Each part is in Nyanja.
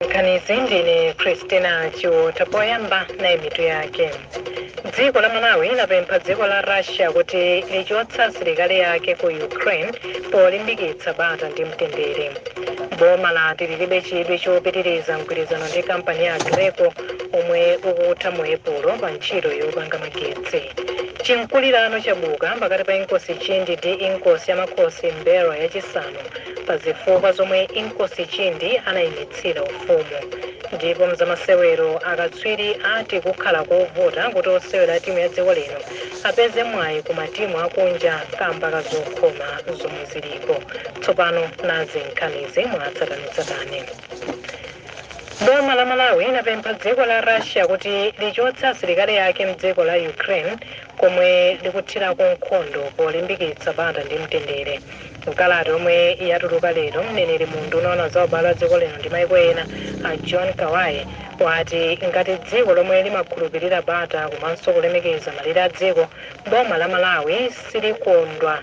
nkhanizi ndine christina chiwotha poyamba nayi mitu yake dziko la malawi lapempha dziko la russia kuti lichotse asilikali ake ku ukraine polimbikitsa bata ndi mtendere boma lati lilibe chidwi chopitiriza mgwirizano ndi kampani ya aggreko omwe ukutha mu epulo pa ntchito yopanga magetsi chimkulirano chabuka pakati pa inkosi chindi ndi inkosi ya makhosi m'mbelwa yachisanu pa zifukwa zomwe Inkosi Chindi anaimitsira ufumu. Ndipo mzamasewero akatswiri ati kukhala kovuta kuti osewera a timu ya dziko lino apeze mwayi ku matimu akunja kamba ka zokhoma zomwe zilipo. Tsopano nazi nkhanizi mwatsatanetsatane. Boma la Malawi lapempha dziko la Russia kuti lichotse asilikali ake mdziko la Ukraine komwe likuthirako nkhondo polimbikitsa bata ndi mtendere. Mkalata yomwe yatuluka lero, mneneri mu unduna woona za ubale wa dziko lino ndi maiko ena a John Kabaghe wati ngati dziko lomwe limakhulupirira bata komanso kulemekeza malire a dziko, boma la Malawi silikondwa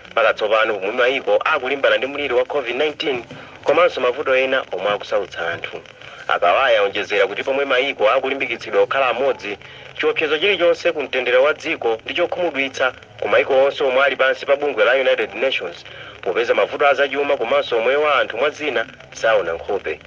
Makatsopano pomwe mayiko akulimbana ndi mliri wa Covid-19 komanso mavuto ena omwe akusautsa anthu, a Kabaghe aonjezera kuti pomwe mayiko akulimbikitsidwa kukhala amodzi, chiopsezo chilichonse ku mtendere wa dziko ndi chokhumudwitsa ku mayiko onse omwe ali pansi pa bungwe la United Nations popeza mavuto a zachuma komanso umoyo wa anthu mwa zina saona nkhope.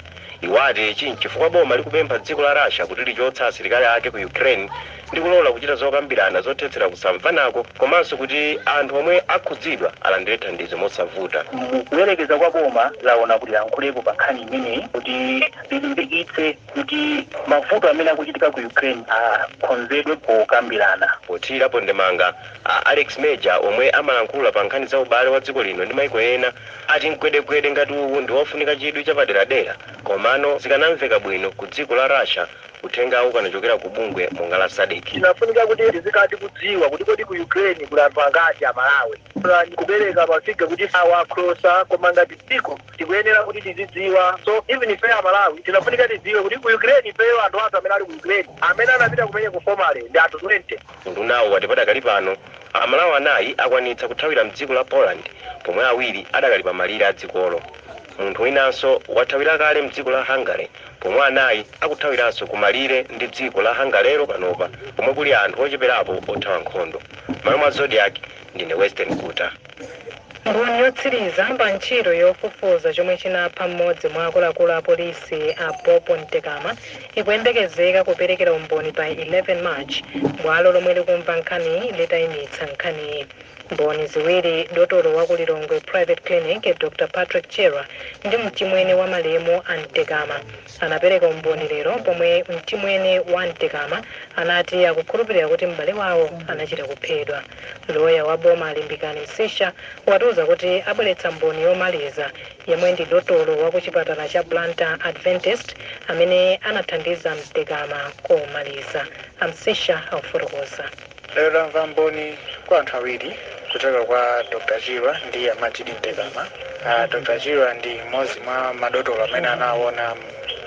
Iwo ati ichi n'chifukwa boma likupempha dziko la Russia kuti lichotse asilikali ake ku Ukraine ndi kulola kuchita zokambirana zothetsera kusamvanako komanso kuti anthu omwe akhudzidwa alandire thandizo mosavuta. Mukuyerekeza kwa boma laona kuti lilankhulepo pa nkhani imeneyi kuti lilimbikitse kuti mavuto amene akuchitika ku Ukraine akonzedwe pokambirana. Pothirirapo ndemanga, a Alex Major omwe amalankhula pa nkhani za ubale wa dziko lino ndi maiko ena ati mgwedegwede ngati uwu ndi wofunika chidwi chapaderadera komano zikanamveka bwino ku dziko la Russia uthengawu ukanachokera ku bungwe monga la Sadc. Tinafunika kuti tizikhala tikudziwa kuti kodi ku Ukraine kuli anthu angati a Malawi. Plan kupereka ma figure kuti awa akrosa koma ngati dziko tikuyenera kuti tizidziwa so even ifeyo a Malawi tinafunika tidziwe kuti ku Ukraine ifeyo anthu athu amene ali ku Ukraine amene anapita kumeneko formally ndi anthu 20. Undunawu wati padakali pano Amalawi anayi akwanitsa kuthawira m'dziko la Poland pomwe awiri adakali pa malire a dzikolo. Munthu winanso wathawira kale m'dziko la Hungary pomwe anayi akuthawiranso ku malire ndi dziko la Hungarylo panopa komwe kuli anthu ocheperapo othawa nkhondo. M'malo mwa Zodiak, ndine Western Guta. Mboni yotsiriza pa ntchito yofufuza chomwe chinapha mmodzi mwa akuluakulu a polisi a Bob Mtekama ikuyembekezeka kuperekera umboni pa 11 March bwalo lomwe likumva nkhaniyi litaimitsa nkhaniyi. Mboni ziwiri, dotolo wa ku Lilongwe Private Clinic Dr Patrick Chirwa ndi mchimwene wa malemu a Mtekama, anapereka umboni lero pomwe mchimwene wa Mtekama anati akukhulupirira kuti m'bale wawo anachita kuphedwa. Loya wa boma Limbikani Msisha atiuza kuti abweretsa mboni yomaliza yemwe ndi dotolo wa kuchipatala cha Blantyre Adventist amene anathandiza Mtekama komaliza. A Msisha akufotokoza. Lero tamva umboni kwa anthu awiri kuchoka kwa Dr Chirwa ndi a Majid Mtekama. A Dr Chirwa ndi mmodzi mwa madotolo amene anawona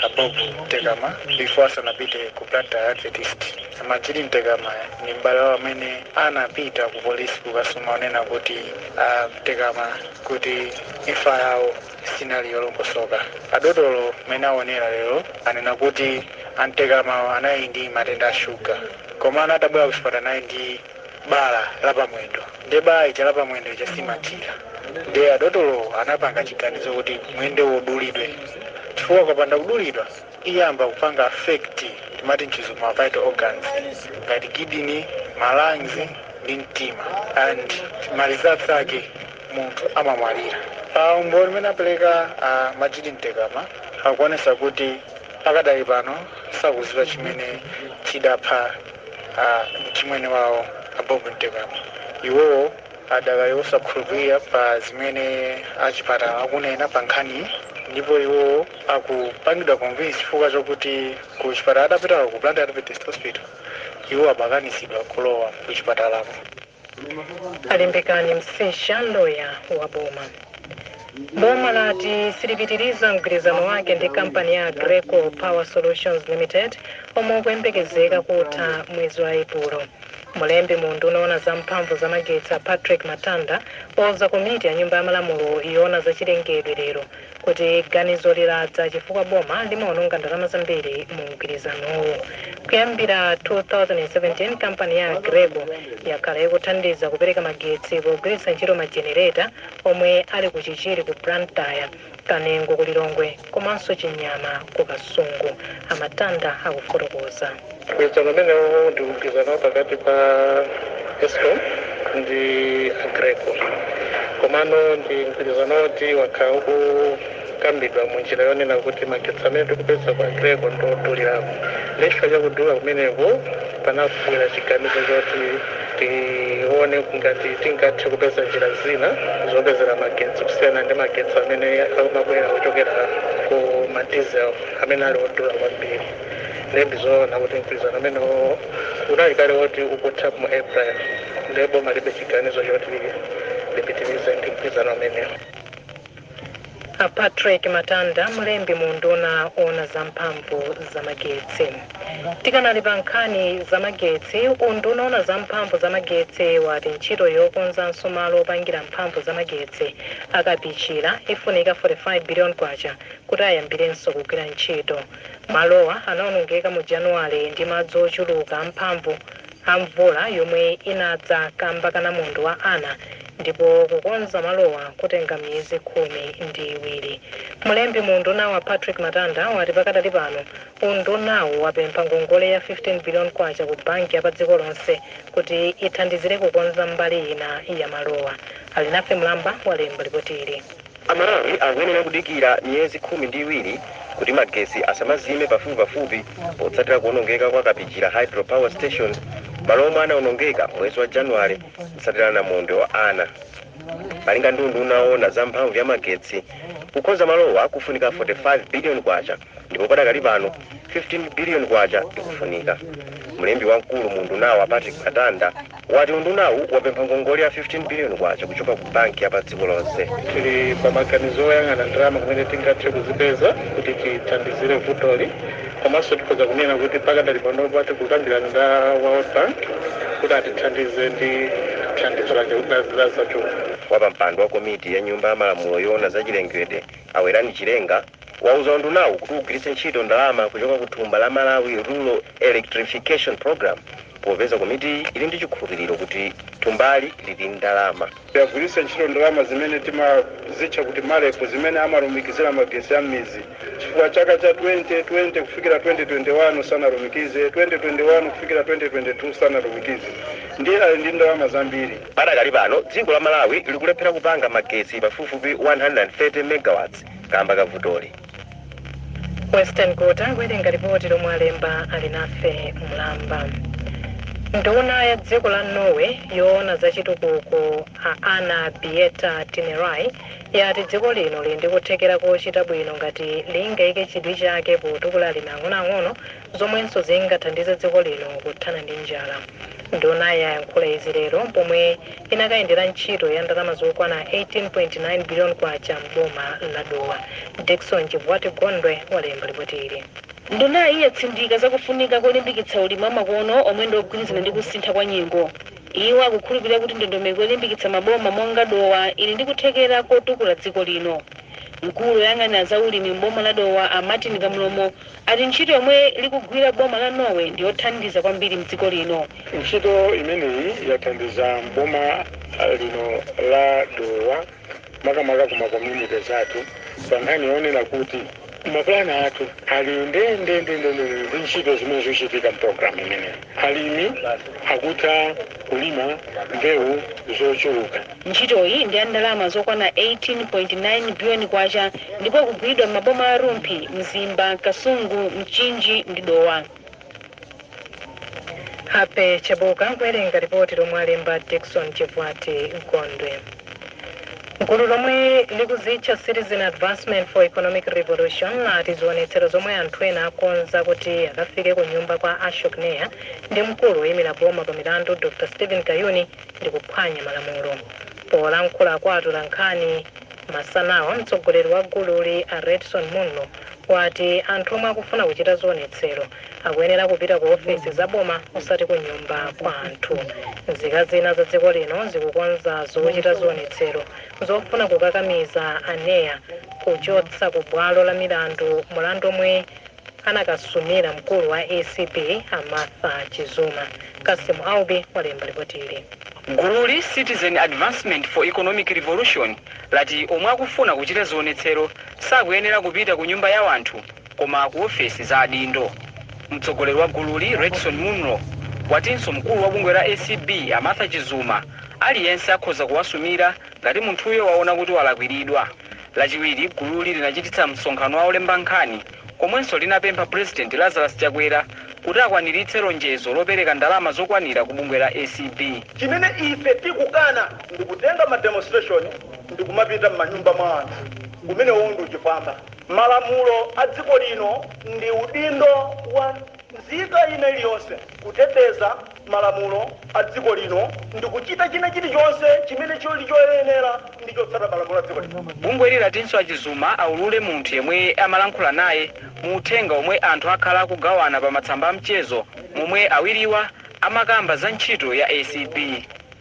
a Bob Mtekama before asanapite ku Blantyre Adventist. A Majid Mtekama ndi m'bale wawo amene anapita ku polisi kukasuma kunena kuti a Mtekama kuti imfa yawo sinali yolongosoka. Adotolo amene aonekera lero anena kuti a Mtekamawa anali ndi matenda a shuga komano atabwera kuchipatala anali ndi bala la pamwendo nde bala lija la pamwendo lija silimachira nde adotolowo anapanga chiganizo kuti mwendowo udulidwe chifukwa ukapanda kudulidwa iyamba kupanga affect timati mchizungu ma vital organs ngati kidney, ma lungs ndi mtima and mapeto ake munthu amamwalira. Pa umboni umene apeleka a Majid Mtekama akuonesa kuti pakadali pano sakuziwa chimene chidapha a mchimwene wawo a Bob Mtekama. Iwowo adakali osakhulupilira pa zimene a chipatala akunena pa nkhaniyi ndipo iwowo sakupangidwa convince chifukwa chokuti ku chipatala adapitako ku Blantyre Adventist Hospital iwo amakanizidwa kulowa ku chipatalako. a limbikani msisha loya wa boma boma lati silipitiriza mgwirizano wake ndi kampani ya aggreko power solutions limited omwe ukuyembekezeka kutha mwezi wa epulo mlembi mu unduna woona za mphamvu za magetsi a patrick matanda wauza komiti ya nyumba ya malamulo yoona za chilengedwe lero kuti ganizoli ladza chifukwa boma limaononga ndalama zambiri mu mgwirizanowu. Kuyambira 2017, kampani ya Aggreko yakhala ikuthandiza kupereka magetsi pogwiritsa ntchito majenereta omwe ali ku Chichiri ku Blantyre, Kanengo ku Lilongwe komanso Chinyama ku Kasungu. A Matanda akufotokoza. Mgwirizano umenewu ndi mgwirizano wa pakati pa Escom ndi Aggreko komano ndi mgwirizano woti wakhala ukukambidwa mu njira yonena kuti magetsi amene tikupeza kwa Aggreko ndi odulirako ndiye chifukwa cha kudula kumeneku panabwera chiganizo choti tione ngati tingathe kupeza njira zina zopezera magetsi kusiyana ndi magetsi amene amabwera kuchokera ku madiesel amene ali odula kwambiri. ndiye ndizoona kuti mgwirizano umenewo unali kale woti ukutha mu april ndiye boma libe chiganizo choti lipitirize ndi mgwirizano umenewo a patrick matanda mlembi mu unduna oona za mphamvu za magetsi tikanali pa nkhani za magetsi unduna oona za mphamvu za magetsi wati ntchito yokonzanso malo opangira mphamvu za magetsi a kapichira ifunika 45 billion kwacha kuti ayambirenso kugwira ntchito Malowa anaonongeka mu Januwale ndi madzi ochuluka amphamvu a mvula yomwe inadza kamba ka namondwe wa Ana ndipo kukonza malowa kutenga miyezi khumi ndi iwiri. Mlembi mu undunawu a Patrick Matanda wati pakadali pano undunawu wapempha ngongole ya 15 billion kwacha ku banki ya pa dziko lonse kuti ithandizire kukonza mbali ina ya malowa. Alinafe Mlamba walemba lipoti ili. Amalawi akuyenera kudikira miyezi khumi ndi iwiri kuti magetsi asamazime pafupipafupi potsatira kuonongeka kwa Kapichira Hydro Power Station malo omwe anaonongeka m'mwezi wa Januwale kutsatira namondwe wa Ana. Malinga ndi unduna oona za mphamvu ya magetsi, kukonza malowa kufunika K45 biliyoni. ndipo padakali pano 15 biliyoni kwacha ikufunika. Mlembi wamkulu mu undunawu a Patrick Matanda wati undunawu wapempha ngongole ya 15 biliyoni kwacha kuchoka ku banki ya pa dziko lonse. tili pa maganizo oyang'ana ndalama kumene tingathe kuzipeza kuti tithandizire vutoli komanso tikhoza kunena kuti pakadali panopa tikukambirana ndi a world bank kuti atithandize ndi thandizo lake kuti lazachuma Wapampando wa komiti ya nyumba ya malamulo yoona za chilengedwe a Werani Chilenga wauza undunawu kuti ugwiritse ntchito ndalama kuchoka ku thumba la Malawi Rural Electrification Programme popeza komitiyi ili ndi chikhulupiriro kuti thumbali lili ndi ndalama. Agwiritse ntchito ndalama zimene timazitcha kuti Marep zimene amalumikizira magetsi a m'midzi chifukwa chaka cha 2020 kufikira 2021 sanalumikize, 2021 kufikira 2022 sanalumikize ndiye ali ndi ndalama zambiri. Padakali pano, dziko la Malawi likulephera kupanga magetsi pafupifupi 130 MW. kaamba ka vutoli. Weston Guta kuwerenga lipoti lomwe walemba Alinafe Mlamba. Nduna ya dziko la Norway yoona za chitukuko a Anne Beathe Tvinnereim yati dziko lino lili ndi kuthekera kochita bwino ngati lingayike chidwi chake potukula alimi ang'onoang'ono zomwenso zingathandize dziko lino kuthana ndi njala. Ndunayi yayankhula izi lero pomwe inakayendera ntchito ya ndalama zokwana K18.9 biliyoni m'boma la Dowa. Dickson Chibwati Gondwe walemba lipoti ili. Ndunayi yatsindika za kufunika kolimbikitsa ulimi wamakono omwe ndi ogwirizana ndi kusintha kwa nyengo. Iwo akukhulupirira kuti ndondomeko yolimbikitsa maboma monga Dowa ili ndi kuthekera kotukula dziko lino. Mkulu oyang'anira za ulimi m'boma la Dowa a Martin Kamlomo ati ntchito yomwe likugwira boma la Norway ndi yothandiza kwambiri m'dziko lino. Ntchito imeneyi yathandiza m'boma lino la Dowa makamaka ku ma communities athu pa nkhani yoona kuti mapulani athu ali ndendendendende ndi ntchito zimene zikuchitika mpulogalamu imeneyi. Alimi akutha kulima mbewu zochuluka. Ntchitoyi ndi ya ndalama zokwana 18.9 biliyoni kwacha ndipo ikugwiridwa m'maboma a Rumphi, Mzimba, Kasungu, Mchinji ndi Dowa. Happy Chebuka kuwerenga lipoti lomwe alemba Dickson Chivwati Gondwe. Gulu lomwe likuzitcha Citizen Advancement for Economic Revolution lati zionetsero zomwe anthu ena akonza kuti akafike ku nyumba kwa Ashok Nair ndi mkulu woimira boma pa milandu Dr Steven Kayuni ndi kuphwanya malamulo. Polankhula kwa atolankhani masanawa, mtsogoleri wa gululi a Redson Munlo wati anthu omwe akufuna kuchita zionetsero akuyenera kupita ku ofesi za boma osati ku nyumba kwa anthu. Nzika zina za dziko lino zikukonza zochita zionetsero zofuna kukakamiza a Nair kuchotsa ku bwalo la milandu mulandu omwe anakasumira mkulu wa acb a Martha Chizuma. Cassim Aubi walemba lipoti ili. Gululi, Citizen Advancement for Economic Revolution, lati omwe akufuna kuchita zionetsero sakuyenera kupita ku nyumba ya wanthu koma ku ofesi za adindo. Mtsogoleri wa gululi, Redson Munlo, watinso mkulu wa bungwe la acb a Martha Chizuma aliyense akhoza kuwasumira Ngati munthuyo waona kuti walakwiridwa, Lachiwiri gululi linachititsa msonkhano wa olemba nkhani komwenso linapempha Pulezidenti Lazarus Chakwera kuti akwaniritse lonjezo lopereka ndalama zokwanira ku bungwe la acb. Chimene ife tikukana ndi kutenga ma demonstration ndikumapita mmanyumba mwa anthu. Umenewowo ndi uchifwamba. Malamulo a dziko lino ndi udindo wa. Nzika ina iliyonse, kuteteza malamulo a dziko lino ndi kuchita china chilichonse chimene chili choyenera ndi chotsata malamulo a dziko lino. Bungweli latinso a Chizuma aulule munthu yemwe amalankhula naye mu uthenga omwe anthu akhala akugawana pa matsamba a mchezo momwe awiriwa amakamba za ntchito ya acb.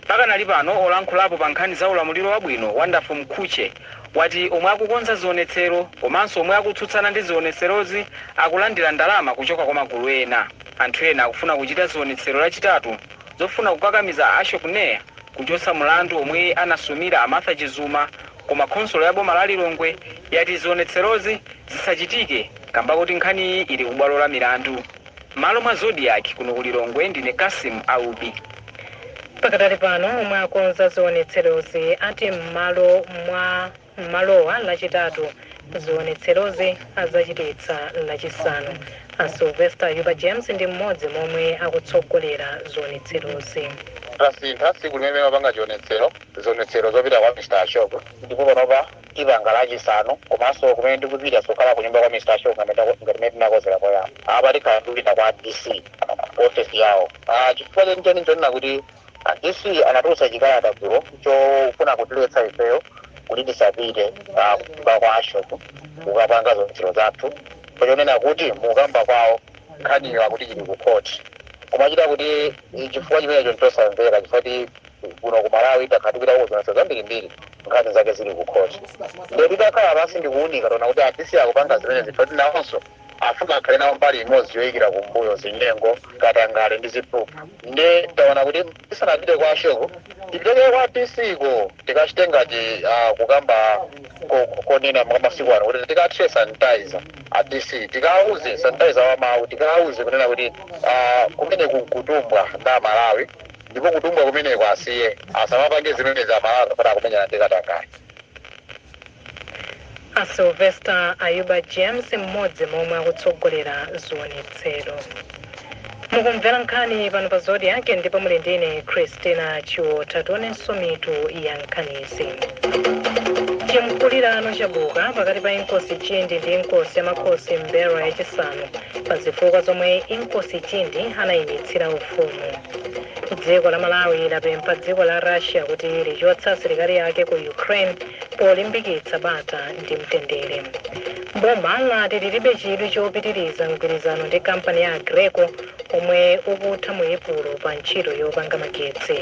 Pakanali pano, olankhulapo pa nkhani za ulamuliro wabwino, Wonderful Mkhutche, wati omwe akukonza zionetsero komanso omwe akutsutsana ndi zionetserozi akulandira ndalama kuchoka kwa magulu ena. Anthu ena akufuna kuchita zionetsero lachitatu zofuna kukakamiza Ashok Nair kuchotsa mulandu omwe anasumira a Martha Chizuma koma khonsolo ya boma la Lilongwe yati zionetserozi zisachitike kamba koti nkhaniyi ili kubwalo la milandu. M'malo mwa Zodiak kuno ku Lilongwe ndine Cassim Aubi. Pakadali pano omwe akonza zionetserozi ati m'malo mwa m'malowa lachitatu zionetserozi adzachititsa lachisanu. A Sylvester Ayuba James ndi mmodzi momwe akutsogolera zionetserozi. Tasintha tsiku limene timapanga chionetsero zionetsero zopita kwa Mr. Ashok ndipo panopa tipanga lachisanu komanso kumene tikupita sokhala kunyumba kwa mr ashok ngati ndako- ngati mene tinakonzera poyamba apa tikhala tikupita kwa dc ofesi yawo Ah, chifukwa chenicheni chonena kuti ah, dc anatulutsa chikalata dzulo chofuna kutiletsa ifeyo kuti tisapite ah, kunyumba kwa ashok kukapanga zionetsero zathu pachonena kuti mukukamba kwawo nkhaniyo akuti chili ku court kumachita kuti eh, chifukwa chimenecho nchosamveka chifukwa kuti kuno ku malawi takhala tikupita ku zionetsero zambirimbiri nkhani zake zili ku khoti nde titakhala pansi ndikuunika taona kuti a dc akupanga zimenezi poti nawonso afuna akhale nawo mbali imodzi yoyikira kumbuyo zinyengo katangale ndi ziphuphu nde taona kuti tisanapite kwa ashoko tipite kaye kwa dc ko tikachite ngati ah, kukamba ko- ko- konena mwa masiku ano kuti tikathire sanitizer a dc tikauze sanitizer wa mawu tikauze kunena kuti ah, kumeneku nkutumbwa ndi amalawi Ndipo kutumbwa kumeneko asiye, asamapange zimenezi Amalawi kapena akumenyana ndi katangale. A Sylvester Ayuba James mmodzi momwe akutsogolera zionetsero. Mukumvera nkhani pano pa Zodiak ndipo muli ndine Christina Chiotha tionenso mitu ya nkhanizi. Chimkulirano chabuka pakati pa Inkosi Chindi ndi Inkosi ya Makhosi M'mbelwa yachisanu pa zifukwa zomwe Inkosi Chindi anayimitsira ufumu. dziko la malawi lapempha dziko la russia kuti lichotse asilikali ake ku ukraine polimbikitsa bata ndi mtendere boma lati lilibe chidwi chopitiriza mgwirizano ndi kampani ya aggreko omwe ukutha mu epulo pa ntchito yopanga magetsi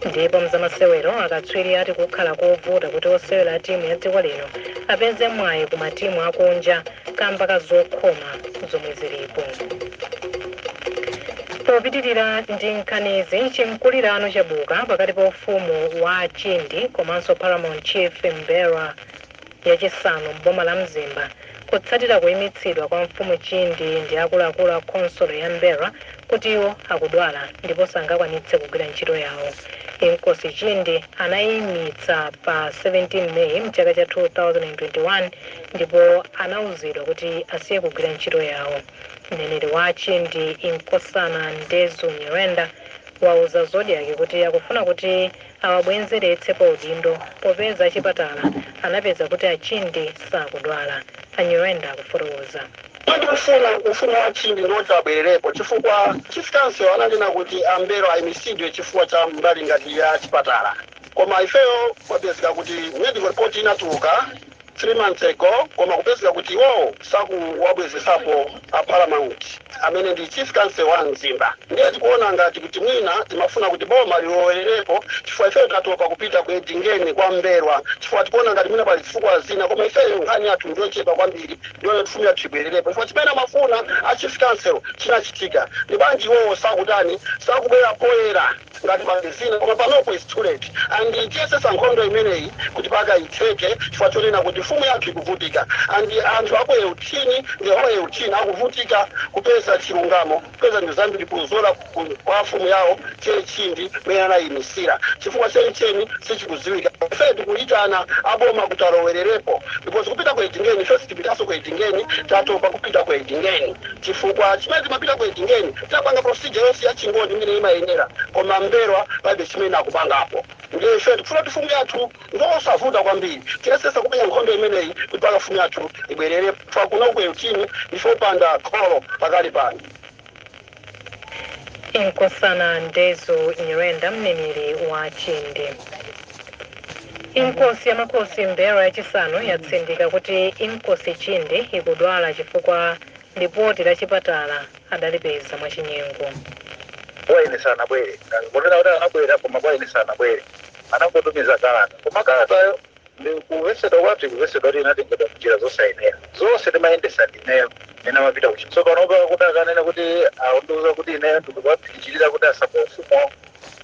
ndipo mzamasewero akatswiri ati kukhala kovuta kuti osewera a timu ya dziko lino apeze mwayi ku matimu akunja kamba ka zokhoma zomwe zilipo popitirira ndi nkhanizi chimkulirano chabuka pakati pa ufumu wa chindi komanso paramount chief m'mbelwa yachisanu m'boma la mzimba kutsatira kuyimitsidwa kwa mfumu chindi ndi akuluakulu a khonsolo ya m'mbelwa kuti iwo akudwala ndipo sangakwanitse kugwira ntchito yawo inkosi chindi anayimitsa pa 17 meyi mchaka cha 2021 ndipo anauzidwa kuti asiye kugwira ntchito yawo. Mneneri wa Chindi, Inkosana Ndezu Nyirenda, wauza Zodiak kuti akufuna kuti awabwenzeretse pa udindo popeza achipatala anapeza kuti a Chindi sakudwala. A Nyirenda akufotokoza. Kodi ufumu ufumu wa Chindi ndi woti abwererepo chifukwa Chief Council ananena kuti a Mbelwa ayimitsidwe chifukwa cha mbali ngati ya chipatala koma ifeyo kwapezeka kuti medical report inatuluka 3 months ago koma kupezeka kuti iwowo sakuwabwezesapo a paramount amene ndi chief council wa mzimba ndiye tikuona ngati kuti mwina timafuna kuti boma lilowererepo chifukwa ifeyo tatopa kupita ku edingeni kwa mbelwa chifukwa tikuona ngati mwina pali zifukwa zina koma ifeyo nkhani yathu ndiyochepa kwambiri ndi yoti fumu yathu ibwererepo chifukwa chimene amafuna a chief council chinachitika ndiye bwanji iwowo sakutani sakubwera poyera Tingalimbange zina koma panopo it's too late and tiyesesa nkhondo imeneyi kuti paka itheke chifukwa chonena kuti mfumu yathu ikuvutika and anthu aku Euthini the whole Euthini akuvutika kupeza chilungamo kupeza zinthu zambiri kuzera kwa mfumu yawo che Chindi mene anayimisira chifukwa chenicheni sichikuziwika ife tikuyitana a boma kuti alowererepo because kupita ku Edingeni ife sitipitaso ku Edingeni tatopa kupita ku Edingeni. Chifukwa chimene timapita ku Edingeni tapanga procedure yonse ya chingoni imene imayenera koma Mbelwa palibe chimene akupangapo ndiye ife tikufuna kuti fumu yathu ndiosavuta kwambiri tiyesesa kumenya nkhondo imeneyi kuti paka fumu yathu ibwerere chifukwa kuno ku Euthini ndife opanda kholo pakali pano. Inkosana Ndezu Nyirenda, mneneri wa Chindi. Inkosi ya Makosi Mbelwa yachisanu yatsindika kuti Inkosi Chindi ikudwala chifukwa lipoti la chipatala adalipeza mwachinyengo. kwa ine sanabwere munena kuti anabwera koma kwa ine sanabwere anangotumiza kalata koma kalatayo ndikuvesedwa kwa tikuvesedwa kuti inatengedwa mnjira zosayenera zonse timayendesa ndineyo ena amapita kuchi so panopa kuti akanena kuti akundiuza kuti ineyo ndikuwaphikichirira kuti asaba ufumu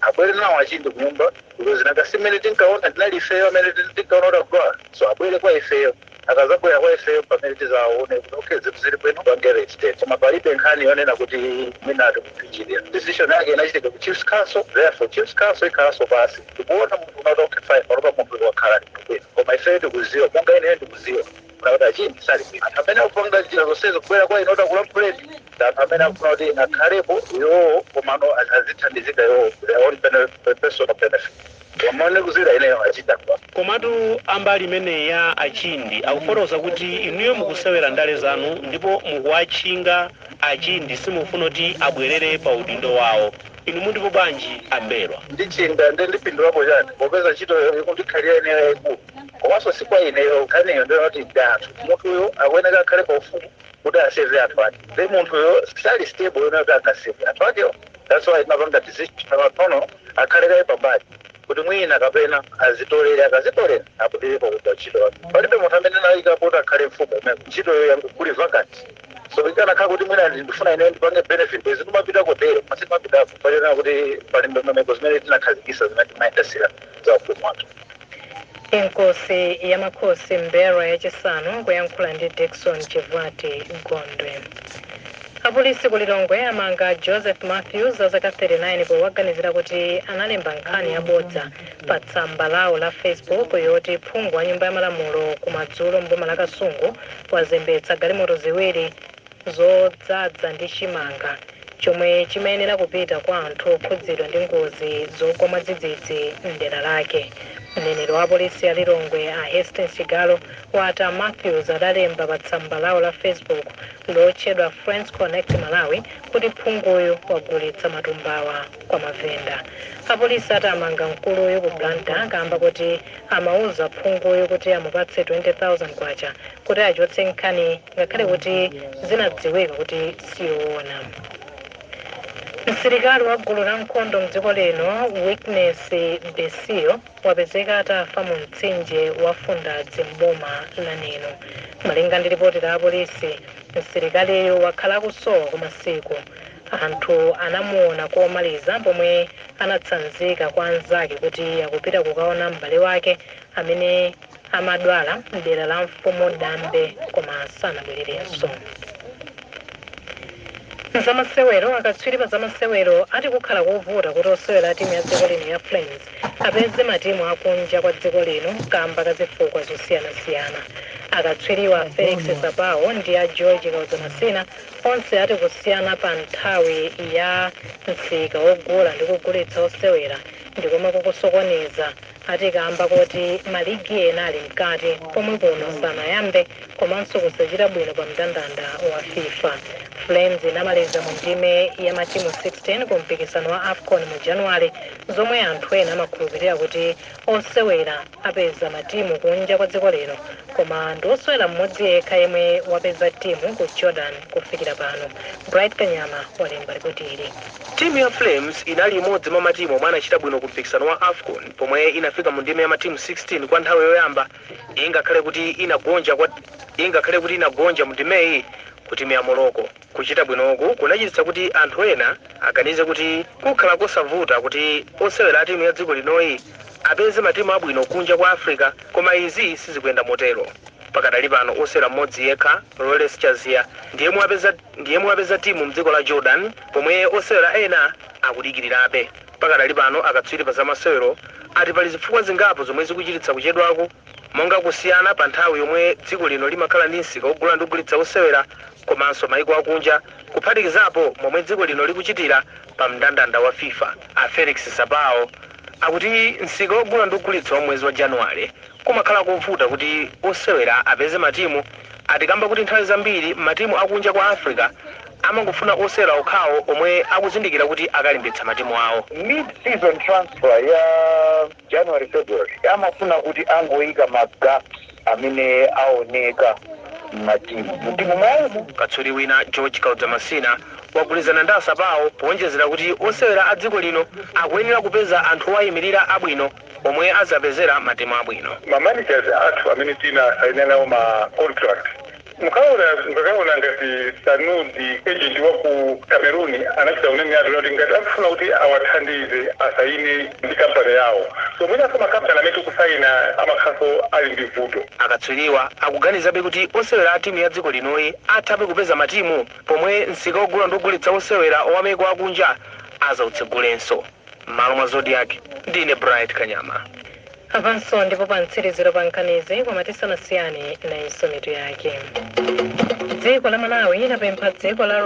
Abwere nawo a Chindi kunyumba because nanga si mmene tinkaona tinali ifeyo amene tin- tinkaona kuti akudwala so abwere kwa ifeyo akazabwera kwa ifeyo pamene tizaone kuti okay zinthu zili bwino apange reinstate koma palibe nkhani yonena kuti mwina atikuchinjirira decision yake inachitika ku chiefs council therefore chiefs council ikhalanso pasi ndikuona munthu unati okay fine panopa munthu wakhala ali bwino koma ifeyo tikuziwa monga ineyo ndikuziwa kuti a Chindi sali bwino anthu amene akupanga njira zonsezo kubwera kwa inu kuti akulankhuleni ndi anthu amene akufuna kuti akhalepo iwowo komano a- azithandizika iwowo their own bene- personal benefit koma ndikuzira ineyo achita kwa komatu ambali imeneyi ya achindi akufotokoza kuti inuyo mukusewera ndale zanu ndipo mukuwatchinga achindi simufuna kuti abwerere pa udindo wawo inu mundipo bwanji ambelwa ndichinda ndi ndipindulapo chani popeza ntchito ikundikhalira ineyo yayikulu komanso si kwa ineyo nkhaniyo ndi yoti ndi anthu munthuyo akuyeneka akhale pa ufumu kuti aseve anthu ake then munthuyo sali stable yonena kuti angaseve anthu akewo that's why tinapanga decision panopo akhale kaye pambali kuti mwina kapena azitolera akazitolera apitiripo kugwira ntchito yake palibe munthu amene anayikapo kuti akhale mfumu imene ntchitoyo yangukuli vacant so ikanakhala kuti mwina ndifuna ine ndipange benefit zikumapita kotero masiku apitapo pachonena kuti pali ndondomeko zimene tinakhazikisa zimene timayendasira za ufumu wathu Inkosi ya Makhosi Mberwa yachisanu kuyankhula ndi Dickson Chivuta Gondwe. Apolisi ku Lilongwe amanga Joseph Matthews a zaka 39 powaganizira kuti analemba nkhani yabodza pa tsamba lawo la Facebook yoti phungu wa nyumba ya malamulo kumadzulo mboma la Kasungu wazembetsa galimoto ziwiri zodzadza ndi chimanga chomwe chimayenera kupita kwa anthu okhudzidwa ndi ngozi zogwa mwadzidzidzi m'dera lake. Mneneri wa polisi ya Lilongwe a Hastings Chigalu wati a Matthews adalemba pa tsamba lawo la Facebook lotchedwa Friends Connect Malawi kuti phunguyu wagulitsa matumbawa kwa mavenda. Apolisi ati amanga mkuluyu ku Blantyre kamba kuti amauza phunguyu kuti amupatse 20,000 kwacha kuti achotse nkhani ngakhale kuti zinadziwika kuti siyoona msilikali wa gulu la nkhondo mdziko lino witness besio wapezeka atafa mu mtsinje wa mfundazi mboma la neno malinga ndi lipoti la apolisi msilikaliyo wakhala akusowa kwa masiku anthu anamuona komaliza pomwe anatsanzika kwa anzake kuti akupita kukaona m'bale wake amene amadwala mdera la mfumu Dambe koma sanabwererenso. Zamasewero akatswiri pa zamasewero ati kukhala kovuta kuti osewera a timu ya dziko lino ya Flames apeze matimu akunja kwa dziko lino kamba ka zifukwa zosiyanasiyana. Akatswiriwa Felix Sapawo ndi a George Kaudza Masina onse ati kusiyana pa nthawi ya msika wogula ndi kugulitsa osewera ndi komwe kukusokoneza ati kaamba koti maligi ena ali mkati pomwe kuno sanayambe komanso kusachita bwino pa mndandanda wa fifa. Flames inamaliza mu ndime ya matimu 16 ku mpikisano wa afcon mu Januwale zomwe anthu ena amakhulupirira kuti osewera apeza matimu kunja kwa dziko lino koma ndi osewera mmodzi yekha yemwe wapeza timu ku jordan kufikira pano. Bright Kanyama walemba ripoti ili. Timu ya Flames inali imodzi mwa matimu omwe anachita bwino ku mpikisano wa Afcon pomwe inafika mu ndime ya matimu 16 kwa nthawi yoyamba ingakhale kuti inagonja mu ndimeyi ku timu ya Morocco. Kuchita bwinoku kunachititsa kuti anthu ena aganize kuti kukhala kosavuta kuti osewera a timu ya dziko linoyi apeze matimu abwino kunja kwa Africa koma izi sizikuyenda motero. Pakadali pano osewera mmodzi yekha, Lawrence Chaziya, ndi yemwe wapeza ndi yemwe wapeza timu mdziko la Jordan pomwe osewera ena akudikilirabe. Pakadali pano akatswiri pa zamasewero ati pali zifukwa zingapo zomwe zikuchititsa kuchedwaku monga kusiyana pa nthawi yomwe dziko lino limakhala ndi msika ogula ndi kugulitsa osewera komanso maiko akunja kuphatikizapo momwe dziko lino likuchitira pa mndandanda wa fifa. A Felix Sapao akuti msika ogula ndi kugulitsa wa mwezi wa Januwale Kumakhala kovuta kuti osewera apeze matimu ati kamba kuti nthawi zambiri matimu akunja kwa Africa amangofuna osewera okhawo omwe akuzindikira kuti akalimbitsa matimu awo. Mid-season transfer ya January, February amafuna kuti angoika ma gaps amene aoneka mmatimu mu timu mwawomo. Katswiri wina George Kaudza Masina wagwirizana ndi a Sapao powonjezera kuti osewera a dziko lino akuyenera kupeza anthu owayimilira abwino. omwe adzawapezera matimu abwino. ma managers athu amene tinasaina nawo ma contract mukaona mukakaona ngati sanudi agent wa ku cameroon anachita kunena atu kuti ngati akufuna kuti awathandize asaine ndi kampani yawo so mwinanso makampani amene tikusaina amakhalanso ali ndi vuto Akatswiriwa akuganizabe kuti osewera a timu ya dziko linoyi athabe kupeza matimu pomwe msika ogula ndi kugulitsa osewera wa maiko akunja adzautsegulenso. M'malo mwa Zodiak, ndine Bright Kanyama. Apanso ndi po pa mtsiriziro pa nkhanizi koma tisanasiyane nayonso mitu yake. Dziko la Malawi linapempha dziko la